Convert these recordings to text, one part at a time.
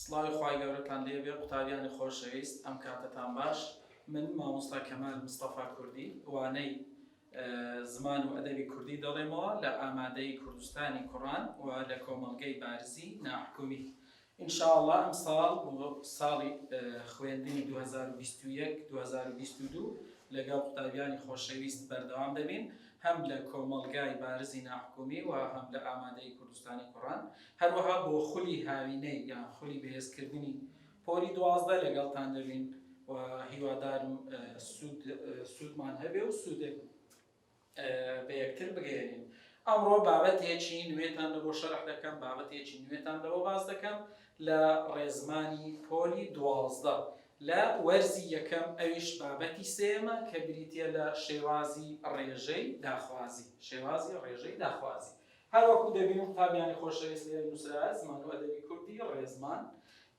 سڵاوی خوای گەورەتان لێ بێ قوتابیانی خۆشەویست ئەم کاتەتان باش من مامۆستا کەمال مستەفا کوردی وانەی زمان و ئەدەبی کوردی دەڵێمەوە لە ئامادەی کوردستانی کوڕان و لە کۆمەڵگەی بارزی ناحکومی ئینشاءله ئەم ساڵ ساڵی خوێندنی 2021 2022 لەگەڵ قوتابیانی خۆشەویست بەردەوام دەبین هەم لە کۆمەڵگای بارزی ناحکومی و هەم لە ئامادەی کوردستانی کوڕان هەروەها بۆ خولی هاوینەی یان خولی بەهێزکردنی پۆلی دوازدە لەگەڵتان دەبین و هیوادارم سوود سوودمان هەبێ و سوودێک بە یەکتر بگەیەنین ئەمڕۆ بابەتێکی نوێتان لەبۆ شەرح دەکەم بابەتێکی نوێتان لەوە باز دەکەم لە ڕێزمانی پۆلی دوازدە لە وەرزی یەکەم ئەویش بابەتی سێمە کە بریتە لە شێوازی ڕێژەی داخوازی شێوازی ڕێژەی داخوازی هەر وەکوو دەبینم قوتابیانی خۆشەویست لێرە نووسراە زمان و ئەدەبی کوردی ڕێزمان،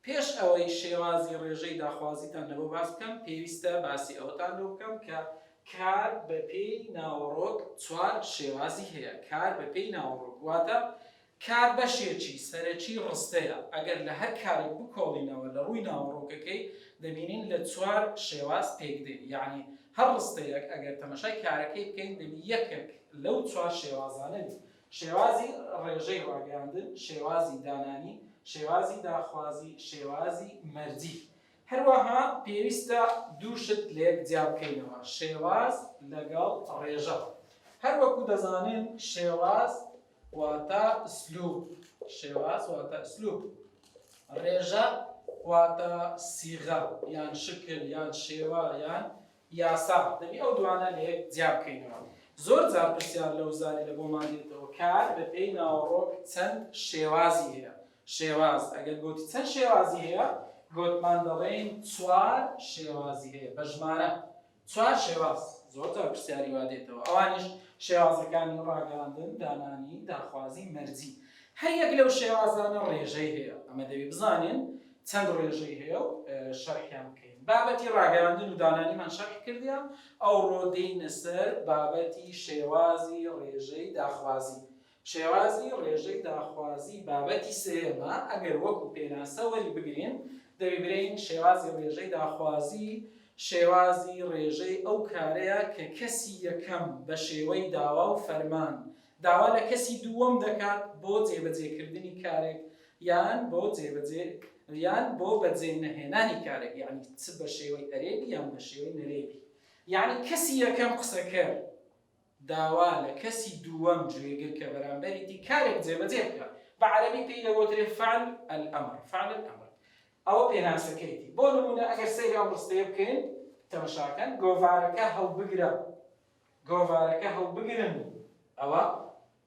پێش ئەوەی شێوازی ڕێژەی داخوازیتان لەوە باس بکەم، پێویستە باسی ئەوەتان لۆ بکەم کە کار بە پێی ناوەڕۆک چوار شێوازی هەیە، کار بە پێی ناوەڕۆک واتە کار بەشێکی سەرەکی ڕستەیە، ئەگەر لە هەر کارێک بکۆڵینەوە لە ڕووی ناوەڕۆکەکەی دەبینین لە چوار شێواز پێکدێ یانی، هەر ڕستەیەک ئەگەر تەمەشای کارەکەی بکەین دەبی یەکەک لەو چوار شێوازانە بی، شێوازی ڕێژەی ڕاگەیاندن، شێوازی دانانی، شێوازی داخوازی، شێوازی مەرجی. هەروەها پێویستە دوو شت لەیەک جیا بکەینەوە، شێواز لەگەڵ ڕێژە. هەر وەکو دەزانن شێواز واتە، ئسلوب، شێواز، واتە، ئسلوب، ڕێژە، واتە، سیغە، یان، شکل، یان، شێوە، یان، یاسا، دەبی ئەو دوانە لە یەک جیا بکەینەوە. زۆر جار پرسیار لەو زاریرە بۆمان دێتەوە کە بە پێی ناوەڕۆک چەند شێوازی هەیە؟ شێواز، ئەگەر گۆتی چەند شێوازی هەیە؟ گۆتمان دەڵێین چوار شێوازی هەیە، بە ژمارە، چوار شێواز زۆر جار پرسیاری وا دێتەوە، ئەوانیش شێوازەکانی ڕاگەیاندن، دانانی، داخوازی، مەرجی. هەر یەک لەو شێوازانە ڕێژەی هەیە، ئەمە دەبێ بزانین چەند ڕێژەی هەیە و شەرحیان بکەین. بابەتی ڕاگەیاندن و دانانیمان شەرح کردیان، ئەوڕۆ دێینە سەر بابەتی شێوازی ڕێژەی داخوازی. شێوازی ڕێژەی داخوازی بابەتی سێیەمە، ئەگەر وەکو پێناسە وەریبگرین، دەیبرێین شێوازی ڕێژەی داخوازی شێوازی ڕێژەی ئەو کارەیە کە کەسی یەکەم بە شێوەی داوا و فەرمان داوا لە کەسی دووەم دەکات بۆ جێبەجێکردنی کارێک یان بۆ جێبەجێ یان بۆ بەجێ نەهێنانی کارێک یعنی چ بە شێوەی ئەرێبی یان بە شێوەی نەرێبی یعنی کەسی یەکەم قسەکەر داوا لە کەسی دووەم گوێگر کە بەرامبەری دی کارێک جێبەجێ بکات، بە عەرەبی پێی دەگۆترێ فعل الامر، فعل الامر، ئەوە پێناسەکەیەتی، بۆ نموونە ئەگەر سەیری ئەم ڕستەیە بکەین، تەمەشاکەن، گۆڤارەکە هەڵبگرە، گۆڤارەکە هەڵبگرن، ئەوە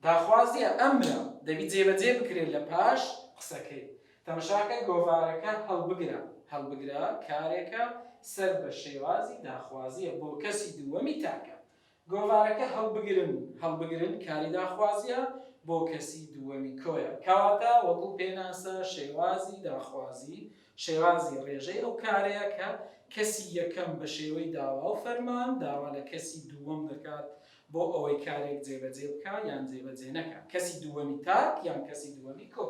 داخوازییە، ئەمرە، دەبی جێبەجێ بکرێت لە پاش قسەکەی، تەمەشاکە، گۆڤارەکە هەڵبگرە، هەڵبگرە کارێکە سەر بە شێوازی داخوازییە بۆ کەسی دووەمی تاکە، گۆڤارەکە هەڵبگرن هەڵبگرن کاری داخوازییە بۆ کەسی دووەمی کۆیە. کەواتە وەکو پێناسە شێوازی داخوازی شێوازی ڕێژەی ئەو کارەیە کە کەسی یەکەم بە شێوەی داوا و فەرمان داوا لە کەسی دووەم دەکات بۆ ئەوەی کارێک جێبەجێ بکا یان جێبەجێ نەکا، کەسی دووەمی تاک یان کەسی دووەمی کۆ.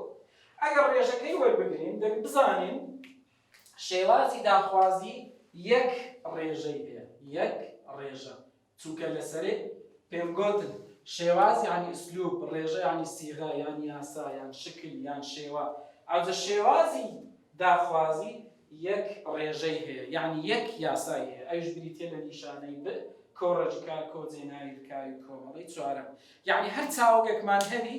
ئەگەر ڕێژەکەی وەربگرین دەک بزانین. شێوازی داخوازی یەک ڕێژەی پێ یەک ڕێژە چونکە لە سەرێ پێم گۆتن شێواز یانی ئسلوب ڕێژە یانی سیغە یان یاسا یان شکل یان شێوە ئەوجە شێوازی داخوازی یەک ڕێژەی هەیە یانی یەک یاسای هەیە ئەوش بریتە لە نیشانەی بر کۆڕەجکا کۆجێ ناوی لکاوی کۆمەڵی چوارەم یانی هەر چاوگەکمان هەبی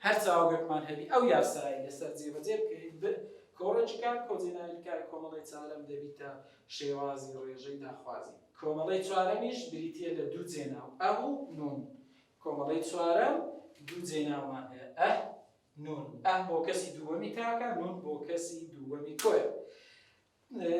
هەر چاوگەکمان هەبی ئەو یاسایی لەسەر جێبەجێ بکەیت بر کۆڕێکی کار کۆجێناوی کار کۆمەڵەی چارەم دەبیتە شێوازی ڕێژەی داخوازی. کۆمەڵەی چوارەمیش بریتییە لە دوو جێناو، ئە و نون. کۆمەڵەی چوارەم دوو جێناومان هەیە، ئە، نون. ئە بۆ کەسی دووەمی تاکە، نون بۆ کەسی دووەمی کۆیە.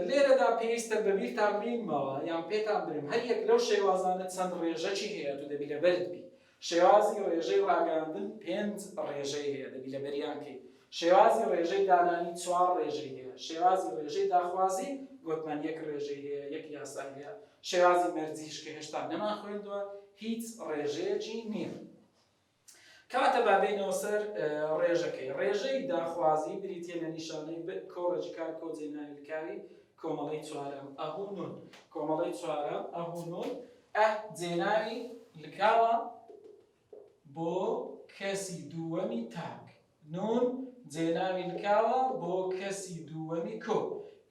لێرەدا پێویستە بە بیرتان بینمەوە یان پێتان برم هەر یەک لەو شێوازانە چەند ڕێژەکی هەیە و دەبی لەبەرت بی. شێوازی ڕێژەی ڕاگەیاندن پێنج ڕێژەی هەیە دەبی لەبەریان کەی. شێوازی ڕێژەی دانانی چوار ڕێژەی هەیە. شێوازی ڕێژەی داخوازی گۆتمان یەک ڕێژەی هەیە یەک یاسای هەیە. شێوازی مەرجیش کە هێشتا نەمان خوێندوە هیچ ڕێژەیەکی نیە. کەواتە با بێینەوە سەر ڕێژەکەی. ڕێژەی داخوازی بریتیە لە نیشانەی ب کۆڕەجی کار کۆجێ ناویلکاوی کۆمەڵەی چوارەم ئه و نون. کۆمەڵەی چوارەم ئه و نون. ئە جێنانی لکاوە بۆ کەسی دووەمی تاک، نون جێناوی لکاوە بۆ کەسی دووەمی کۆ،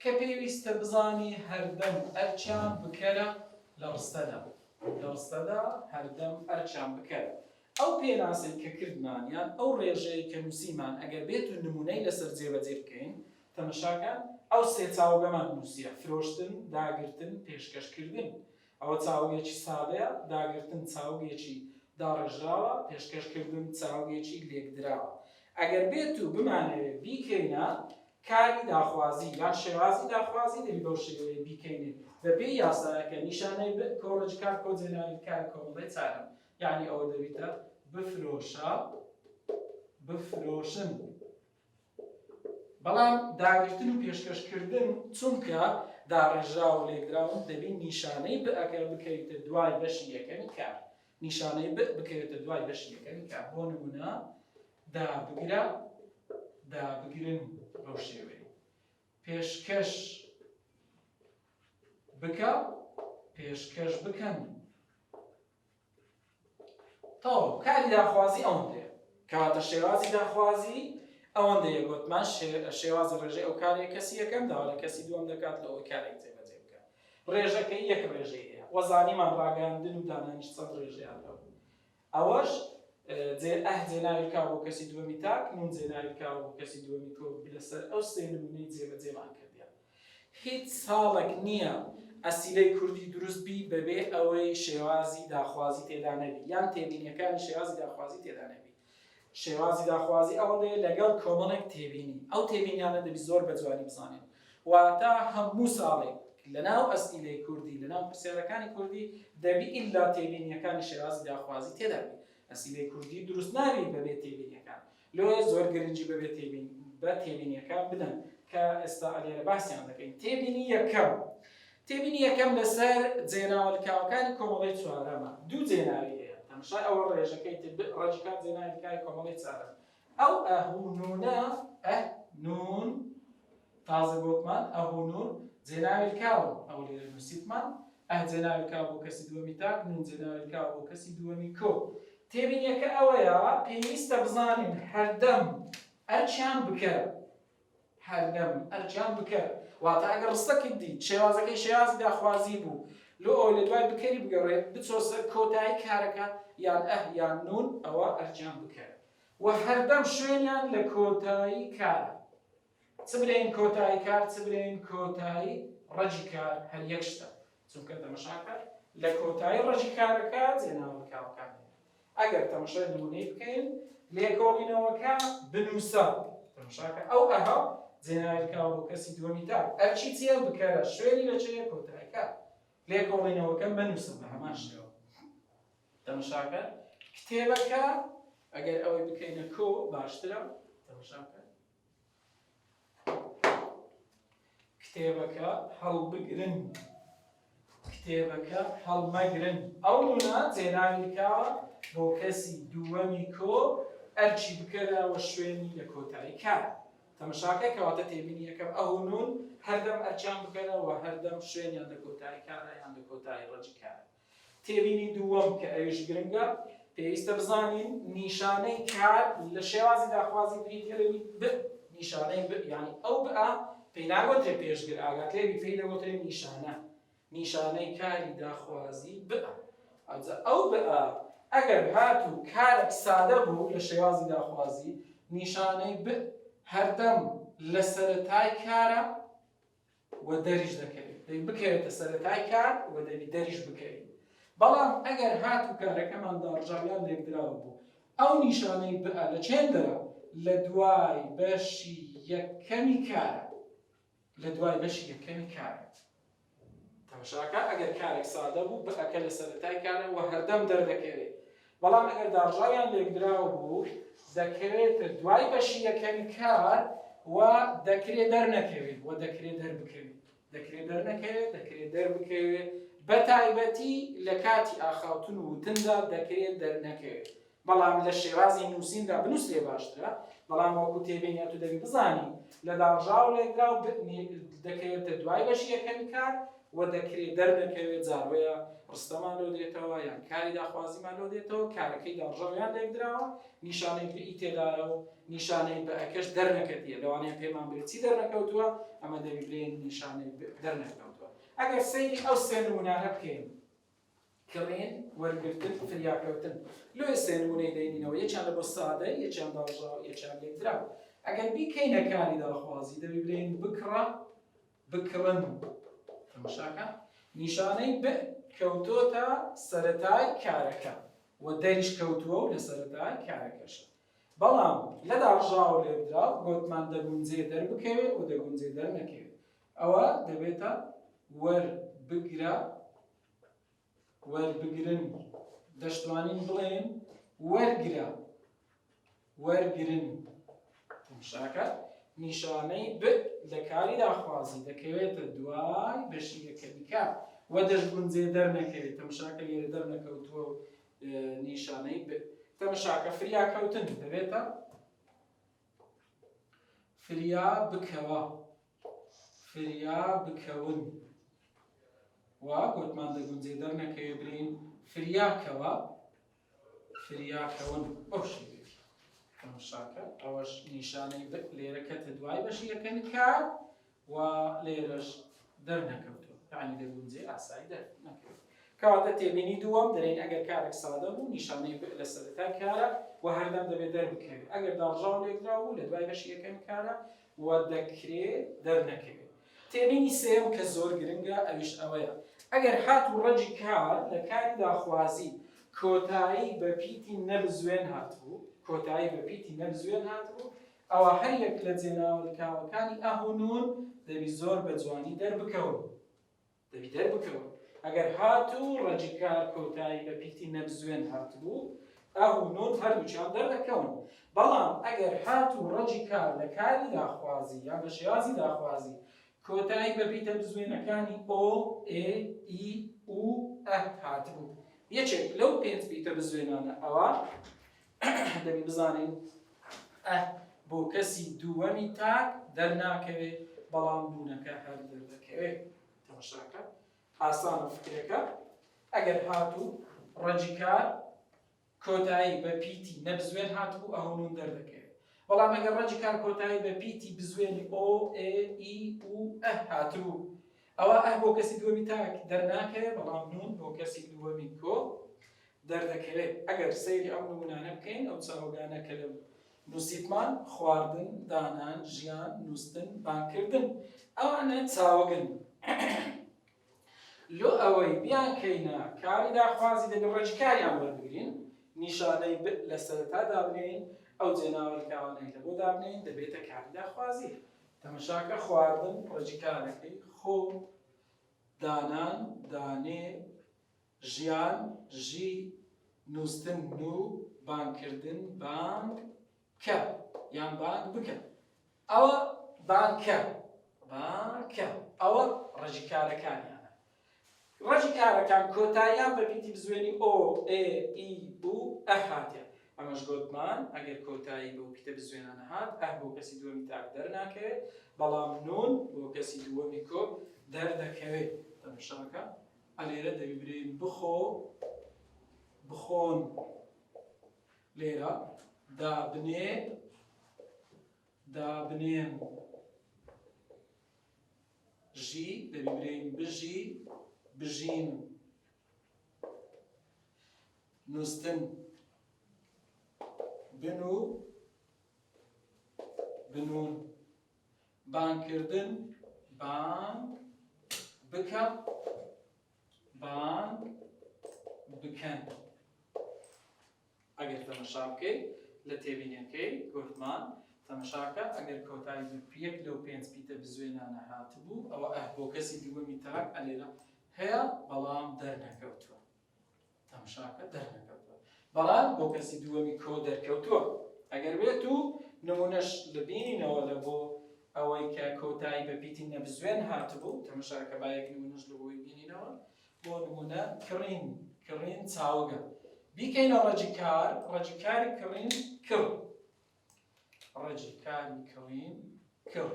کە پێویستە بزانی هەردەم ئەرکیان بکەرە لە ڕستەدا. لە ڕستەدا هەردەم ئەرکیان بکەرە. ئەو پێناسەی کە کردمان یان ئەو ڕێژەی کە نووسیمان ئەگەر بێت و نموونەی لەسەر جێبەجێ بکەین، تەمەشاکە ئەو سێ چاوگەمان نووسییە، فرۆشتن، داگرتن، پێشکەشکردن. ئەوە چاوگێکی سادەیە، داگرتن چاوگێکی داڕێژراوە، پێشکەش کردن چاوگێکی لێکدراوە. ئەگەر بێت و بمانەوێ بیکەینە کاری داخوازی یان شێوازی داخوازی دەبی بەو شێوەیە بیکەینێ بە پێی یاسایەکە نیشانەی ب کۆڵێکی کار کۆجێناوی کاری کۆمەڵەی چارم یانی ئەوە دەبیتە بفرۆشە بفرۆشن. بەڵام داگرتن و پێشکەش کردن چونکە داڕێژراوە و لێکدراون دەبی نیشانەی بئەکە بکەویتە دوای بەشی یەکەمی کار نیشانەی بئ بکەوێتە دوای بەشی یەکەمی کار بۆ نمونە دابگرە دابگرن بەو شێوەیە پێشکەش بکە پێشکەش بکەن تەواو کاری داخوازی ئەوەندەیە کەواتە شێوازی داخوازی ئەوەندەیە گوتمان شێوازی ڕێژەی ئەو کارێک کەسی یەکەم داوا لە کەسی دووەم دەکات لەوەی کارێک جێبەجێ بکات ڕێژەکەی یەک ڕێژەی هەیە وەزانیمان ڕاگەاندن و دانانیش چەند ڕێژەیان لەو ئەوەش جێ ئەه جێناوی کا بۆ کەسی دووەمی تاک نون جێناوی کا بۆ کەسی دووەمی کۆ لەسەر ئەو سێ نمونەی جێبەجێمان کردیان هیچ ساڵێک نییە ئەسیلەی کوردی دروست بی بەبێ ئەوەی شێوازی داخوازی تێدا نەبی یان تێبینیەکانی شێوازی داخوازی تێدا نەبی. شێوازی داخوازی ئەوەندەیە لەگەڵ کۆمەڵێک تێبینی، ئەو تێبینیانە دەبی زۆر بە جوانی بزانین. واتە هەموو ساڵێک لەناو ئەسیلەی کوردی، لەناو پرسیارەکانی کوردی دەبی ئیلا تێبینیەکانی شێوازی داخوازی تێدا بی. ئەسیلەی کوردی دروست نابی بەبێ تێبینیەکان. لۆیە زۆر گرنگی بە بێ تێبینی بە تێبینیەکان بدەن کە ئێستا ئەلێرە باسیان دەکەین تێبینی یەکەم تێبینی یەکەم لەسەر جێناوە لکاوەکانی کۆمەڵی چوارەمە دوو جێناوی هەیە تەمشای ئەوە ڕێژەکەی ڕەجکات جێناوی لکاوی کۆمەڵی چارەم ئەو ئەهونونە ئە نون تازە گۆتمان، ئەهو نون، جێناوی کاوم، ئەو لێرە نووسیتمان، ئه جێناوی کاو بۆ کەسی دووەمی تاک، نون جێناوی کاو بۆ کەسی دووەمی کۆ. تێبینیەکە ئەوەیە پێویستە بزانین هەردەم ئەرکیان بکە، هەردەم ئەرکیان بکە، واتە ئەگەر ڕستەکت دی شێوازەکەی شێوازی داخوازی بوو، لۆ ئەوەی لە دوای بکەری بگەڕێ بچۆ سەر کۆتایی کارەکە یان ئه یان نون، ئەوە ئەرکیان بکە. و هەردەم شوێنیان لە کۆتایی کارە. چ بلێین کۆتایی کار چ بلێین کۆتایی ڕەجی کار هەر یەک شتە، چونکە تەمەشاکە لە کۆتایی ڕەجی کارەکە جێناوەکاوەکان دێنە. ئەگەر تەمەشای نمونەی بکەین، لێکۆڵینەوەکە بنوسە، تەمەشاکە ئەو ئەها جێناویلکاوە بۆ کەسی دووەمی تا، ئەرکی چیە؟ بکەرە، شوێنی لە چێە؟ کۆتایی کار. لێکۆڵینەوەکە مەنوسە بە هەمان شێوە. تەمەشاکە کتێبەکە ئەگەر ئەوەی بکەینە کۆ باشترە تەمەشاکە کتێبەکە هەڵبگرن کتێبەکە هەڵمەگرن ئەو نونا جێناوی دکاوە بۆ کەسی دووەمی کۆ ئەرچی بکەرەوە شوێنی لە کۆتایی کار تەمەشاکە کەواتە تێبینی یەکەم ئەو نون هەردەم ئەرچیان بکەرەوە هەردەم شوێنیان لە کۆتایی کارە یان لە کۆتایی ڕەجی کارە تێبینی دووەم کە ئەویش گرنگە، پێویستە بزانین نیشانەی کار لە شێوازی داخوازی بریت لەوی بئ، نیشانەی بئ یانی ئەو بئ پێی ناگۆترێ پێشگر، ئاگات لێبی پێی دەگۆترێ نیشانە، نیشانەی کاری داخوازی بئ. ئەوجا ئەو بئ ئەگەر هاتوو کارەک سادە بوو لە شێوازی داخوازی، نیشانەی بئ هەردەم لە سەرەتای کارە، و دەریش دەکەوێت، دەی بکەوێتە سەرەتای کار و دەبی دەریش بکەوین، بەڵام ئەگەر هات و کارەکەمان داڕژا یان لێکدراو بوو، ئەو نیشانەی بئ لە چێندەرە لە دوای بەشی یەکەمی کارە، لە دوای بەشی یەکەمی کارە. تەمەشاکە ئەگەر کارێک سادە بوو، بئ کە لە سەرەتای کارە و هەردەم دەردەکەوێت، بەڵام ئەگەر داڕژاویان لێکدراوبوو دەکەوێتە دوای بەشی یەکەمی کار و دەکرێ دەرنەکەوێت و دەکرێت دەربکەوێت دەکرێت دەرنەکەوێت دەکرێت دەربکەوێت بە تایبەتی لە کاتی ئاخاوتن و وتندا دەکرێت دەرنەکەوێت بەڵام لە شێوازی نووسیندا بنووس لێ باشترە بەڵام وەکو تێبینە تو دەبی بزانی لە داڕژاو لێکدراو دەکەوێتە دوای بەشی یەکەمی کار و دەکرێ دەرنەکەوێ جا بۆیە ڕستەمان لۆ دێتەوە یان کاری داخوازیمان لۆ دێتەوە کارەکەی داڕژاو یان لێکدراوە نیشانەی بە ی تێدایە و نیشانەی بە ئەکەش دەرنەکەتیە لەوانەیە پێمان بێت چی دەرنەکەوتووە ئەمە دەبی بلێین نیشانەی دەرنەکەوتووە ئەگەر سەیری ئەو سێ نموونانە بکەین کڕین، وەرگرتن، فریاکەوتن. لۆیە سێ نموونەی دەینینەوە، یەکیان لە بۆ سادە، یەکیان داڕژاو، یەکیان لێکدراو. ئەگەر بیکەینە کاری داخوازی، دەبی بلێین بکڕە، بکڕن. تەماشاکە، نیشانەی بئ کەوتۆتە سەرەتای کارەکە و دەریش کەوتووە و لە سەرەتای کارەکەشە. بەڵام لە داڕژاو و لێکدراو گۆتمان دەگونجێ دەربکەوێ و دەگونجێ دەرنەکەوێ. ئەوا دەبێتە وەربگرە، وەربگرن، دەشتوانین بڵێین وەرگرە، وەرگرن. تەمشاکە نیشانەی ب لە کاری داخوازی دەکەوێتە دوای بەشیرەکە دیکە و دەشگونجێ دەرنەکەوێت تەمشاکە لێرە دەرنەکەوتووە و نیشانەی ب تەمشاکە فریاکەوتن دەبێتە فریا بکەوە فریا بکەون و گۆتمان دەگونجێ دەرنەکەوێ برێین فریا کەوە فریا کەون بەو شێوێتی شاکە ئەوەش نیشانەی لێرە کەتە دوای بەشی یەکەم کار و لێرەش دەرنەکەوتەوە یعنی دەگونجێ ئاسایی دەرنەکەوێت کەواتە تێبینی دووەم دەرێن ئەگەر کارێک سادە بوو نیشانەی بئ لە سەرەتای کارە و هەردەم دەبێت دەربکەوێت ئەگەر داڕژاو لێکراو بوو لە دوای بەشی یەکەم کارە و دەکرێ دەرنەکەوێ. تێبینی سێیەم کە زۆر گرنگە ئەویش ئەوەیە ئەگەر هات و ڕەگی کار لە کاری داخوازی کۆتایی بە پیتی نەبزوێن هاتبوو کۆتایی بە پیتی نەبزوێن هاتبوو ئەوا هەر یەک لە جێناوەلکاوەکانی ئه و نون دەبی زۆر بە جوانی دەربکەون. دەبی دەربکەون ئەگەر هاتوو ڕەجکار کۆتایی بە پیتی نەبزوێن هاتبوو ئاه و نون هەردووچان دەردەکەون بەڵام ئەگەر هاتوو ڕەجی کار لە کاری داخوازی یا بە شێوازی داخوازی کۆتایی بە پیتە بزوێنەکانی ئۆ ئێ ئی و ئەه هاتبوو یەکێک لەو پێنج پیتە بزوێنانە ئەوە دەبی بزانین ئه بۆ کەسی دووەمی تاک دەرناکەوێ بەڵام بوونەکە هەر دەردەکەوێ تەمەشاکە ئاسانە فکرەکە ئەگەر هاتوو ڕەجی کار کۆتایی بە پیتی نەبزوێن هاتبوو ئەهونون دەردەکەوێت بەڵام ئەگەر ڕەجی کار کۆتایی بە پیتی بزوێنی ئۆ ئێ ئی و ئه هاتبوو ئەوە ئە بۆ کەسی دووەمی تاک دەرناکەوێ بەڵام نون بۆ کەسی دووەمی کۆ دەردەکەوێت ئەگەر سەیری ئەو نمونانە بکەین ئەو چاوگانە کە لە نوسیتمان خواردن دانان ژیان نوستن بانگکردن ئەوانە چاوگن لۆ ئەوەی بیان کەینە کاری داخوازی دەبێت ڕێکی کاریان وەربگرین نیشانەی ب لە سەرەتا دابنێین ئەو جێناوەرکاوانەی لە بۆ دابنێین دەبێتە کاری داخوازی تەمەشاکە خواردن ڕێکی کارەکەی خۆ دانان دانێ ژیان، ژی، نووستن، نو، بانگکردن، بانگ، کە، یان بانگ بکە. ئەوە بانگ کە، بانگ کە. ئەوە ڕەجی کارەکانیانە. ڕەجی کارەکان کۆتاییان بە پیتی بزوێنی ئۆ، ئێ، ئی، ئو، ئە هاتێ. ئەمەش گۆتمان ئەگەر کۆتایی بەو پیتە بزوێنانە هات، ئه بۆ کەسی دووەمی تاک دەرناکەوێت، بەڵام نون بۆ کەسی دووەمی کۆ دەردەکەوێت. تەمشاکە. ئەلێرە دەبی برێین بخۆ بخۆن لێرە دابنێ دابنێن ژی دەبی برێین بژی بژین نووسن بن و بنون بانگ کردن بانگ بکە بانگ بکەن ئەگەر تەمەشا بکەیت لە تێبینەکەی گۆتمان تەمەشاکە ئەگەر کۆتایی زرپیەک لەو پێنج پیتە بزوێنانە هاتبوو ئەوە ئەه بۆ کەسی دووەمی تاک ئەلێرە هەیە بەڵام دەرنەکەوتووە تەمشاکە دەرنەکەوتوە بەڵام بۆ کەسی دووەمی کۆ دەرکەوتوە ئەگەر بێت و نمونەش لەبینینەوە لە بۆ ئەوەی کە کۆتایی بە پیتی نەبزوێن هاتبوو تەمشاکە بایەک نمونەش لە بۆی بینینەوە بۆ نمونە کڕین کڕین چاوگە بیکەینە ڕەجی کار ڕەجی کاری کڕین کڕ ڕەجیکانی کڕین کڕ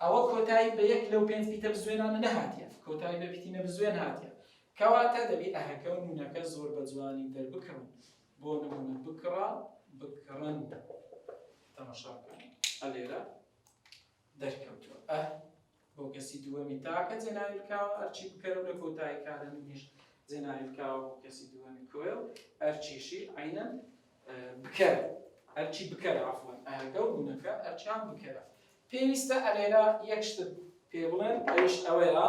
ئەوە کۆتایی بە یەک لەو پێنج پیتە بزوێنانە نەهاتیە کۆتایی بە پیتینە بزوێن هاتیە کەواتە دەبی ئەهەکە و نونەکە زۆر بە جوانی دەربکڕن بۆ نمونە بکڕە بکڕن تەمەشاکەن ئەلێرە دەرکەوتوە ئە بۆ کەسی دووەمی تاکە جێناویل کاوە ئەرچی بکەرە و لە کۆتایی کارە منیش جێناویل کاوە بۆ کەسی دووەمی کۆیل ئەرچیشی عینەن بکەر ئەرچی بکەر عفوەن ئەهەکە و بوونەکە ئەرچیان بکەرە پێویستە ئەلێرا یەک شتت پێ بڵێن ئەویش ئەوەیە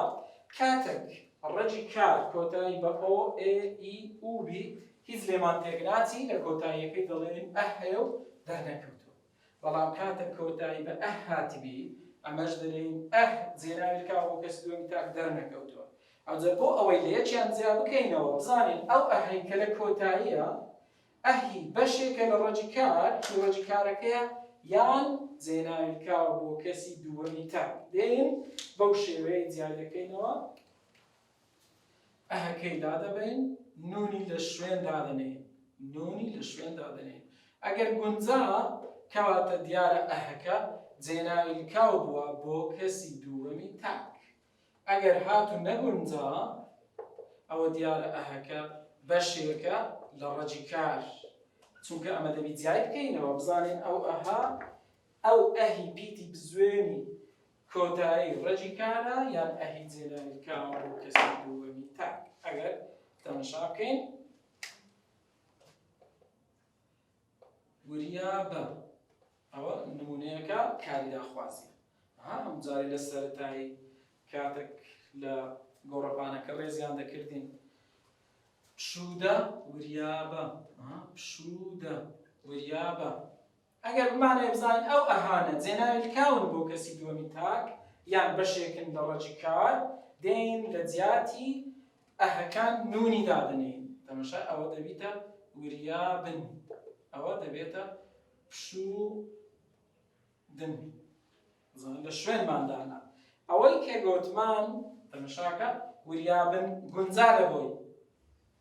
کاتێک ڕەجی کار کۆتایی بە ئۆ ئێ ئی ئوو بی هیچ لێمان تێک ناچی لە کۆتاییەکەی دەڵێنین ئەه هەیە و دەرنەکەوتووە بەڵام کاتەک کۆتایی بە ئه هاتبی، ئەمەش دەلێین ئه جێناوی کا بۆ کەسی دووەمی تاک دەرنەکەوتووە. ئەوجە بۆ ئەوەی لە یەکیان جیا بکەینەوە، بزانین ئەو ئه ەی کە لە کۆتاییە، ئه ی بەشێکە لە ڕەجی کار، ی ڕەجی کارەکەیە، یان جێناوی کا بۆ کەسی دووەمی تاک. دێین بەو شێوەیە جیای دەکەینەوە. ئەهەکەی دادەبەین، نوونی لە شوێن دادەنێین، نوونی لە شوێن دادەنێین. ئەگەر گونجا، کەواتە دیارە ئەهەکە جێناوی لکاو بووە بۆ کەسی دووەمی تاک. ئەگەر هات و نەگونجا، ئەوە دیارە ئەهەکە بەشێکە لە ڕەگی کار، چونکە ئەمە دەبی جیای بکەینەوە، بزانین ئەو ئەها، ئەو ئەهی پیتی بزوێنی کۆتایی ڕەگی کانە یان ئەهی جێنانی کاوە بۆ کەسی دووەمی تاک ئەگەر تەمەشا بکەین وریا بە ئەوە نمونەیەەکە کاریداخوازی هەم جاری لە سەرتایی کاتێک لە گۆڕەپانەکە ڕێزیان دەکردین پشوودە وریابە پشوودە وریابە ئەگەر بمانەوێ بزانین ئەو ئەهانە جێناوی لکاون بۆ کەسی دووەمی تاک یان بەشێکن لە ڕەگی کار، دێین لە جیاتی ئەهەکان نوونی دادەنێین. تەمەشای ئەوە دەبیتە وریا بن. ئەوە دەبێتە پشوو دن. بزانن لە شوێنمان دانا. ئەوەی کە گۆتمان تەمەشاکە وریابن گونجا لە بۆی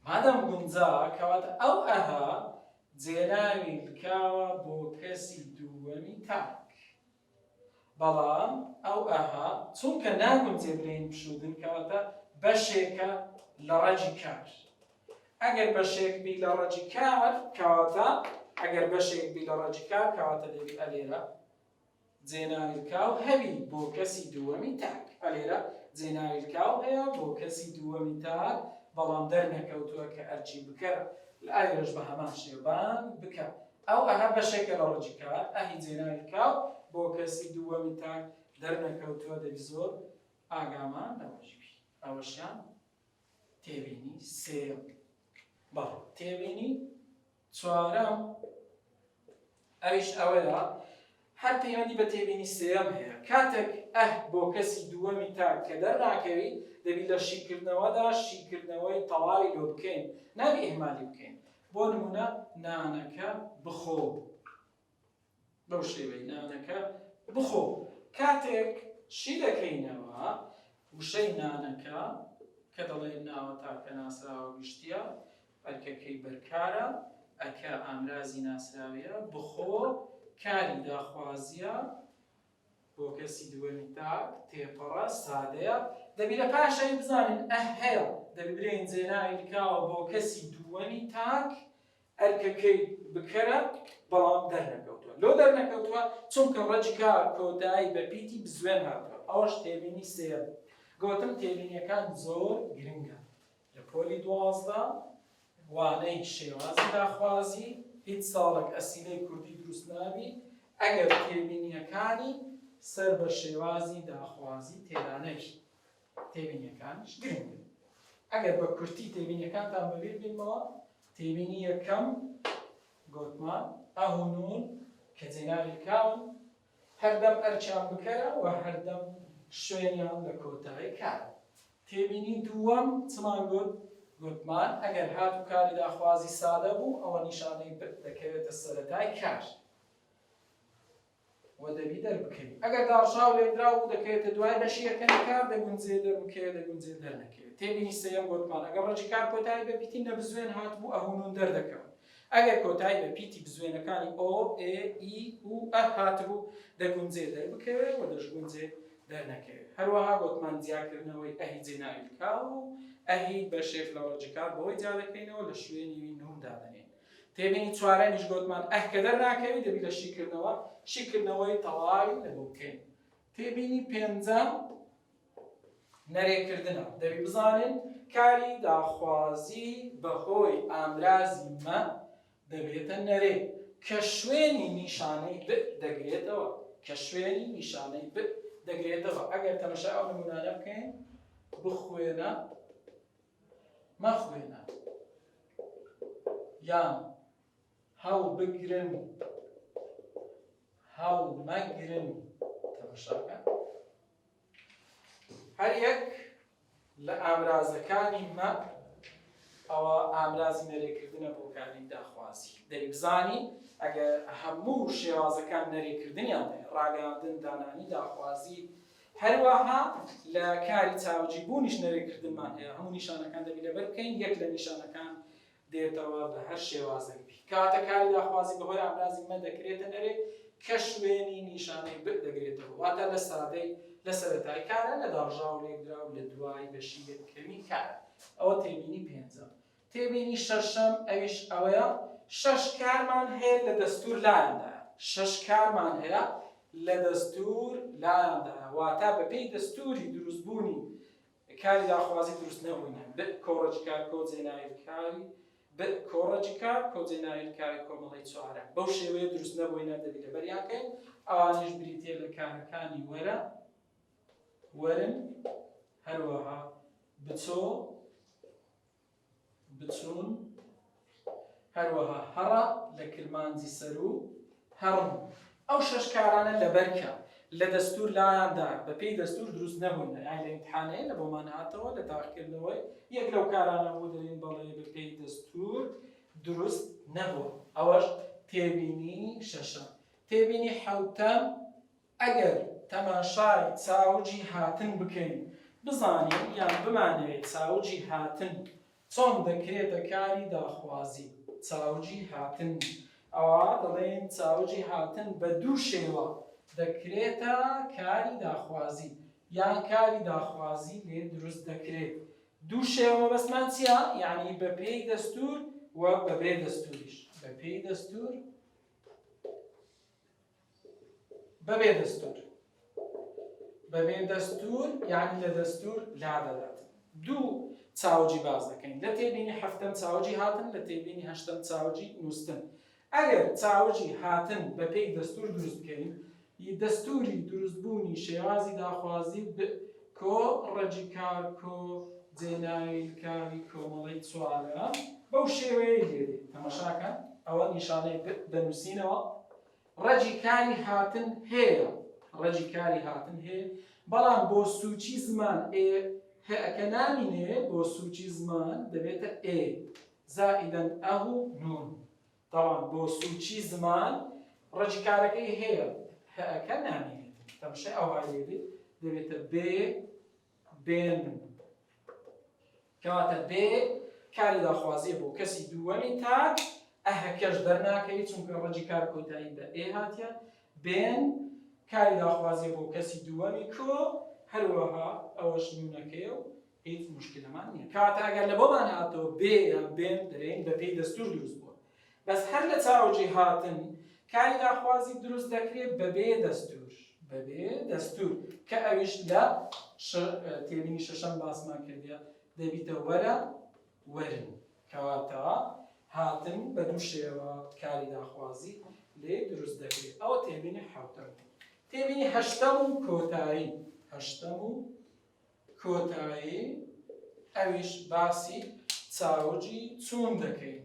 مادەم گونجا کەواتە ئەو ئەها جێناوی لکاوە بۆ کەسی دووەمی تاک بەڵام ئەو ئەها چونکە ناگونجێ برین پشودن کەواتە بەشێکە لە ڕەجی کار ئەگەر بەشێک بی لە ڕەجی کار کەواتە ئەگەر بەشێک بی لە ڕەجی کار کەواتە دەبی ئەلێرە جێناویلکاو هەبی بۆ کەسی دووەمی تاک. ئە لێرە جێناویلکاو هەیە بۆ کەسی دووەمی تاک، بەڵام دەرنەکەوتووە کە ئەرکی بکەرە. لایرەش بە هەمان شێوە بان بکە. ئەو ئە هە بەشێکە لە ڕەگی کار. ئە هی جێناویلکاو بۆ کەسی دووەمی تاک دەرنەکەوتووە دەبی زۆر ئاگامان لەوەش بی. ئەوەشیان تێبینی سێیەم بوو. بەڵێ تێبینی چوارەم، ئەویش ئەوەیە، هەر پەیوەندی بە تێبینی سێیەم هەیە، کاتێک ئه بۆ کەسی دووەمی تاک کە دەرناکەوی، دەبی لە شیکردنەوەدا شیکردنەوەی تەواوی لۆ بکەین، نابی ئیهمالی بکەین، بۆ نموونە نانەکە بخۆ. بەو شێوەی نانەکە بخۆ کاتێک شی دەکەینەوە وشەی نانەکە کە دەڵێن ناوە تاکە ناسراوە گشتیە ئەرکەکەی بەرکارە ئەکە ئامرازی ناسراویە بخۆ کاری داخوازیە بۆ کەسی دووەمی تاک تێپەڕە سادەیە دەبی لە پاشەوی بزانین ئە هەیە دەبرێن جێناوی کاوە بۆ کەسی دووەمی تاک ئەرکەکەی بکەرە بەڵام دەرنەکەوتوە لۆ دەرنەکەوتوە چونکە ڕەجکا کۆتایی بە پیتی بزوێن هاتوە ئەوەش تێبینی سێیەم گۆتم تێبینیەکان زۆر گرنگە لە پۆلی دوازدە وانەی شێوازی داخوازی هیچ ساڵێک ئەسیلەی کوردی دروست نابی ئەگەر تێبینیەکانی سەر بە شێوازی داخوازی تێدانەوی تێبینیەکانیش گرنگن. ئەگەر بە کورتی تێبینیەکانتان بەبیر بێنمەوە، تێبینی یەکەم گۆتمان، ئه و نون کە جێناوی کاون، هەردەم ئەرکیان بکەرە و هەردەم شوێنیان لە کۆتای کارە. تێبینی دووەم چمان گۆت؟ گۆتمان، ئەگەر هات و کاری داخوازی سادە بوو، ئەوە نیشانەی بت دەکەوێتە سەرەتای کار. و دەبی دەربکەوی ئەگەر داڕشاو لێنراو بوو دەکەوێتە دوای بەشی یەکەمی کار دەگونجێ دەربکەوێت دەگونجێ دەرنەکەوێت تێبینی سێیەم بۆتمان ئەگەر ڕەجی کار کۆتایی بە پیتی نەبزوێن هاتبوو ئەهونون دەردەکەون ئەگەر کۆتایی بە پیتی بزوێنەکانی ئۆ ئێ ئی و ئە هاتبوو دەگونجێ دەربکەوێت و دەشگونجێ دەرنەکەوێت هەروەها بۆتمان جیاکردنەوەی ئەهی جێناوی کاو و ئەهی بەشێک لە ڕەجکار بەوەی جیا دەکەینەوە لە شوێنی نوم دادەنێن تێبینی چوارەمیش گۆتمان، ئەه کە دەرناکەوی دەبی لە شیکردنەوە، شیکردنەوەی تەواوی لەگەڵ بکەین. تێبینی پێنجەم نەرێکردنە، دەبی بزانین کاری داخوازی بەهۆی ئامرازی مە دەبێتە نەرێ کە شوێنی نیشانەی ب دەگرێتەوە، کە شوێنی نیشانەی ب دەگرێتەوە، ئەگەر تەمەشای ئەو نموونانە بکەین، بخوێنە. مەخوێنە یان هەڵبگرن هەڵمەگرن تەمەشاکە هەر یەک لە ئامرازەکانی مە ئەوە ئامرازی نەرێکردنە بۆ کاری داخوازی دەی بزانی ئەگەر هەموو شێوازەکان نەرێکردنیان ڕاگەاندن دانانی داخوازی هەروەها لە کاری چاوجی بوونیش نەرێکردنمان هەیە، هەموو نیشانەکان دەبی لەبەر بکەین، یەک لە نیشانەکان دێتەوە بە هەر شێوازێک بی. کاتە کاری لاخوازی بەهۆی ئامرازی مە دەکرێتە نەرێ کە شوێنی نیشانەی بئ دەگرێتەوە، واتە لە سادەی لە سەرەتای کارە، لە داڕژاو و لێکدراو لە دوای بەشی یەکەمی کارە. ئەوە تێبینی پێنجەم. تێبینی شەشەم ئەویش ئەوەیە شەش کارمان هەیە لە دەستوور لایاندایە، شەش کارمان هەیە لە دەستوور لایاندایە واتا بە پێی دەستووری دروست بوونی کاری داخوازی دروست نەبوونە، بئ کۆڕەکی کار کۆ جێنایر کاری، بئ کۆڕەکی کار کۆ جێنایر کاری کۆمەڵەی چوارەم، بەو شێوەیە دروست نەبووینە دەبی لەبەریان کەین، ئەوانیش بریتیە لە کارەکانی وەرە، وەرن، هەروەها بچۆ، بچوون، هەروەها هەڕە لە کرمانجی سەروو، هەڕم. ئەو شەش کارانە لەبەر کە لە دەستوور لایاندا بەپێی دەستوور دروست نەبوون، لە ئیمتحانەیە لە بۆمان هاتەوە لە تاقیکردنەوەی یەک لەو کارانە بوو دەڵێن بەڵێ بەپێی دەستوور دروست نەبووە. ئەوەش تێبینی شەشەم. تێبینی حەوتەم، ئەگەر تەماشای چاوگی هاتن بکەین بزانین یان بمانەوێت چاوگی هاتن چۆن دەکرێتە کاری داخوازی چاوگی هاتن ئەوا دەڵێین چاوگی هاتن بە دوو شێوە دەکرێتە کاری داخوازی یان کاری داخوازی لێ دروست دەکرێت دوو شێوە مەبەستمان چییە یعنی بە پێی دەستور و بەبێ دەستوریش بە پێی دەستور بەبێ دەستور بەبێ دەستور یعنی لە دەستور لادەدات دوو چاوجی باز دەکەین لە تێبینی هەفتەم چاوجی هاتن لە تێبینی هەشتم چاوجی نووسن ئەگەر چاوجی هاتن بەپێی دەستور دروست بکەین دەستوری دروستبوونی شێوازی داخوازی کۆ ڕەجی کار کۆ جێناوی کاری کۆمەڵی چوارە بەو شێوەیە دێت تەمەشاکە ئەوە نیشانەی دەنووسینەوە ڕەجی کاری هاتن هەیە ڕەجی کاری هاتن هەیە بەڵام بۆ سوچی زمان ئێ هەکە نامینێ بۆ سوچی زمان دەبێتە ئێ زائیدەن ئەه و نون تاوان بۆ سوچی زمان ڕەجی کارەکەی هەیە هەکە نامینێت تەمشە ئەوهایێت دەبێتە بێ بێن کەواتە بێ کاری داخوازیە بۆ کەسی دووەمی تاک ئە هەکەش دەرناکەوی چونکە ڕەجی کار کۆتایی بە ئێ هاتیە بێن کاری داخوازیە بۆ کەسی دووەمی کۆ هەروەها ئەوەش نونەکەی و هیچ مشکلەمان نیە کاتاگەر لە بۆمان هاتەوە بێ یان بێن دەرێن بەپێی دەستور دروست بووە بەس هەر لە چاوجی هاتن کاری داخوازی دروست دەکرێ بەبێ دەستور بەبێ دەستور کە ئەویش لە تێبینی شەشەم باسمان کردە دەبیتە وەرە وەرن کەواتە هاتن بە دوو شێوە کاری داخوازی لێ دروست دەکرێت ئەوە تێبینی حوتەم تێبینی هەشتەم و کۆتایی هەشتەم و کۆتایی ئەویش باسی چاوگی چوون دەکەین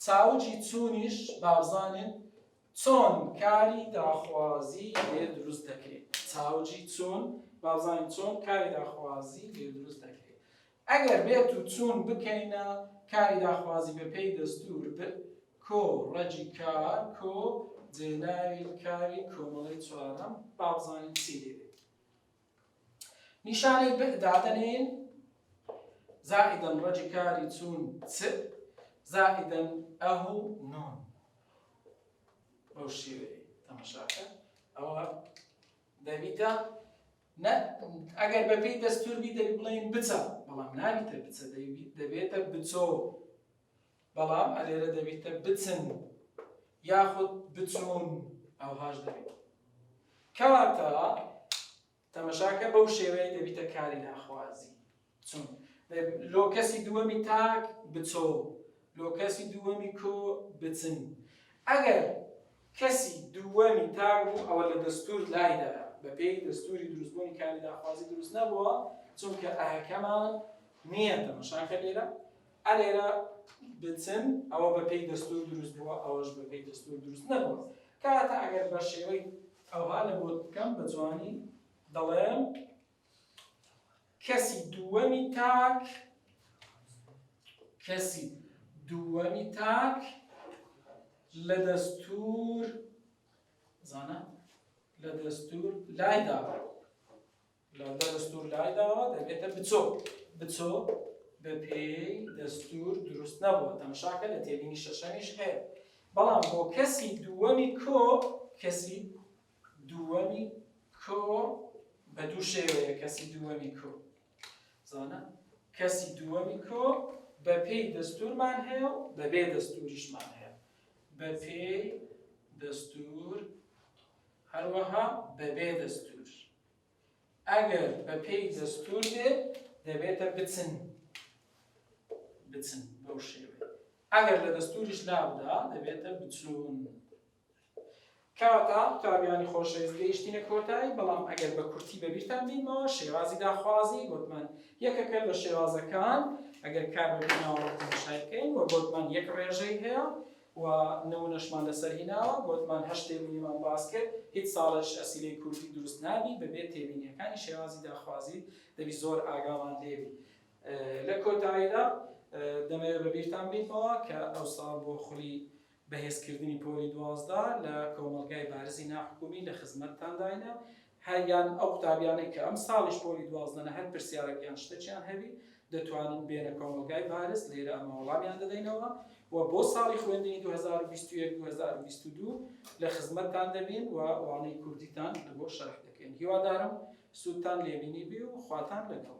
چاوگی چوونیش بابزانین چۆن کاری داخوازی لێ دروست دەکەین چاوگی چوون بابزانین چۆن کاری داخوازی لێ دروست دەکەین ئەگەر بێت و چوون بکەینە کاری داخوازی بەپێی دەستور بێت کۆ ڕەجی کار کۆ جێناوی کاری کۆمەڵی چوارەم بابزانین چی لێ نیشانەی ب دادەنێین، زائدا ڕەجی کاری چوون چ، زائدا ئه و نون. بەو شێوەیە تەمەشاکە ئەوە دەبیتە ئەگەر بەپێی دەستور بی دەبی بڵێن بچە بەڵام نابیتە بچە دەبێتە بچۆ بەڵام ئەلێرە دەبیتە بچن یاخود بچون ئەوهاش دەبیت کەواتە تەمەشاکە بەو شێوەیە دەبیتە کاری ناخوازی چون لۆ کەسی دووەمی تاک بچۆ لۆ کەسی دووەمی کۆ بچن ئەگەر کەسی دووەمی تاک بوو ئەوە لە دەستور لایدا بە پێی دەستوری دروستبوونی کاری ناخوازی دروست نەبووە چونکە ئەهەکەمان نییە تەمەشاکە لێرە ئەلێرە بچن ئەوە بە پێی دەستور دروست بووە ئەوەش بە پێی دەستور دروست نەبووە کەواتە ئەگەر بە شێوەی ئەوها لە بۆت بکەم بە جوانی دەڵێم کەسی دووەمی تاک کەسی دووەمی تاک لە دەستور زانە لە دەستور لایدا لە دەستور لای داوە دەبێتە بچۆ بچۆ بە پێی دەستور دروست نەبووە تەمەشاکە لە تێبینی شەشەمیش هەیە بەڵام بۆ کەسی دووەمی کۆ کەسی دووەمی کۆ بە دوو شێوەیە کەسی دووەمی کۆ زانە کەسی دووەمی کۆ بە پێی دەستورمان هەیە و بە بێ دەستوریشمان هەیە بە پێی دەستور هەروەها بە بێ دەستور ئەگەر بە پێی دەستور بێ دەبێتە بچن بچن بەو شێوێ ئەگەر لە دەستوریش لابدا دەبێتە بچون کەواتە قوتابیانی خۆشەویست گەیشتینە کۆتایی بەڵام ئەگەر بە کورتی بەبییرتان بینەوە شێوازی داخوازی گوتمان یەکەکە لە شێوازەکان ئەگەر کار بەناوەڕۆشای بکەین و گوتمان یەک ڕێژەی هەیە و نمونەشمان لەسەر هیناوە گۆتمان هەشت تێبینیمان باس کرد هیچ ساڵێکش ئەسیلەی کوردی دروست نابی بەبێ تێبینیەکانی شێوازی داخوازی دەبی زۆر ئاگامان لێبی لە کۆتاییدا دەمەوێت بەبیرتان بینمەوە کە ئەوساڵ بۆ خولی بەهێزکردنی پۆلی دوازدە لە کۆمەڵگای بارزی ناحکومی لە خزمەتتانداینە هەر یان ئەو قوتابیانەی کە ئەم ساڵیش پۆلی دوازدەنە هەر پرسیارەک یان شتەکیان هەبی دەتوانن بێنە کۆمەڵگای بارز لێرە ئەمە وەڵامیان دەدەینەوە و بۆ ساڵی خوێندنی 2021 2022 لە خزمەتتان دەبین و وانەی کوردیتان لە بۆ شەرح دەکەین هیوادارم سوودتان لێبینی بی و خواتان لەگەڵ